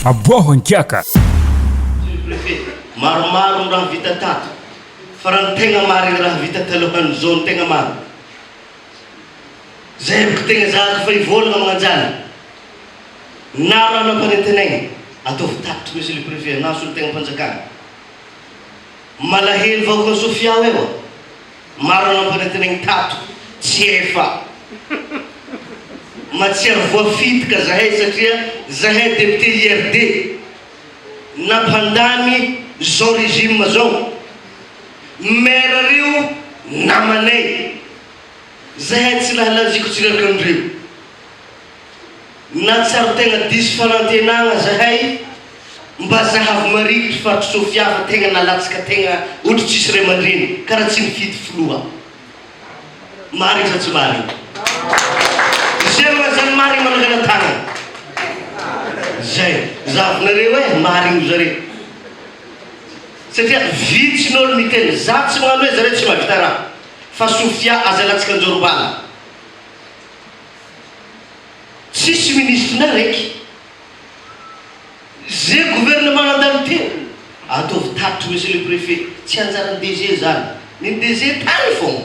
Aboaho an-kiaka! Monsieur le Préfet, maromaro ny raha vita tato, fa raha ny tegna marigny raha vita talohan'izao no tegna marigny. Zay bôka tegna zahako efa hivôlagna magnanjany. Na raha nampanentan'aigny, ataovy tatitry Monsieur le Préfet, na solontegna am-panjakana. Malahelo vahoaka an'i Sofia ao eo a! Marina ny fanatenainy tato tsy efa matsiaro voafitika zahay satria zahay député IRD nampandany zao régime zao maire reo namanay zahay tsy lahalaziko tsy reraka anreo Nahatsiaro tegna diso fanantenagna zahay mba zahavy mariky ry faritry Sofia fa tegna nalatsaka tegna ohatry tsisy ray aman-dreny karaha tsy nifidy filoha. Marigny sa tsy marigny? Izay manazany marigny manangana tagnana. Zay. Zahavinareo eh marigny ry zareo. Satria vitsy ny olo miteny. Za tsy magnano hoe zareo tsy mahavita raha fa Sofia aza alatsaka an-jorom-bala. Tsisy ministre na raiky. Ze gouvernement nandalo tena ataovy tatitra monsieur le préfet tsy anjaran'ny DG zany. Ny DG tany fôgna.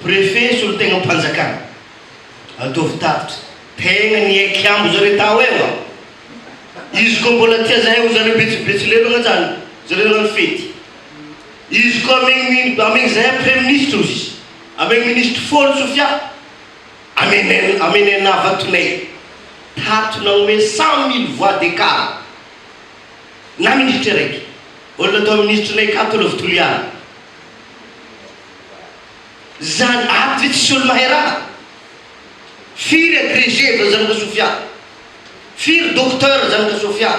Préfet solontegnam panjakana. Ataovy tatitra. Tegna ny hay kiambo zareo tao eo an. Izy koa mbola tia zahay ho zareo betsy betsilelo agnajany zareo nagnano fety. Izy koa amegny amegny zahay praiministra ozy. Amen ministre fôlo Sofia amen amenenavatone tato nanome cent mille voix d'ecart na ministre araiky olona atao ministre nay ka tolovo toliara zany ato zay tsisy olo mahay raha firy agrege fa zanaka Sofia firy docteur zanaka Sofia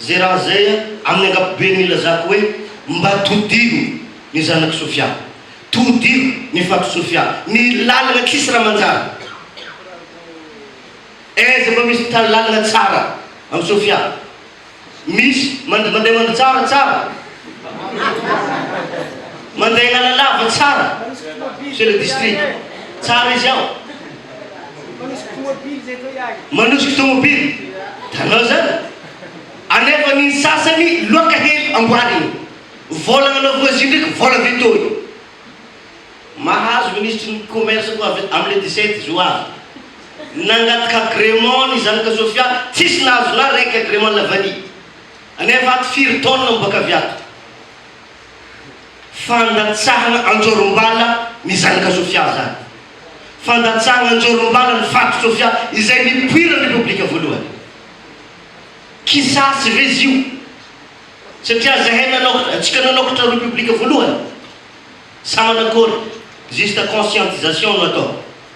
Zay raha zay amin'ny ankapobeny ilazako hoe mba todivo ny zanak'i Sofia, todivo ny fatr'i Sofia, ny lalana tsisy raha manjary. Aiza mba misy mitady lalana tsara amin'i Sofia? Misy mand mandeha mandry tsara tsara, mandeha analalava tsara, Monsieur le District, tsara izy ao. Manosika tomobily zay atao iahy. Manosika tomobily tanao zany alefan'ny sasany loaka hely amboariny vola ana voisin ndraiky vola veto io mahazo ministry ny commerce koa avy am le dix-sept zo avy nangataka agrément ny zanaka sofia tsisy nahazo na raiky agrément lavali anefa ato firy taona miboaka avy ato Fandatsahana anjorom-bala ny zanaka Sofia izany. Fandatsahana anjorom-bala ny faditry Sofia izay nipoiran'ny Repoblika Voalohany. Kisasy ve izy io? Satria izahay nanao, antsika nanakotra Repoblika Voalohany? Sa manakory? Juste conscientisation no atao.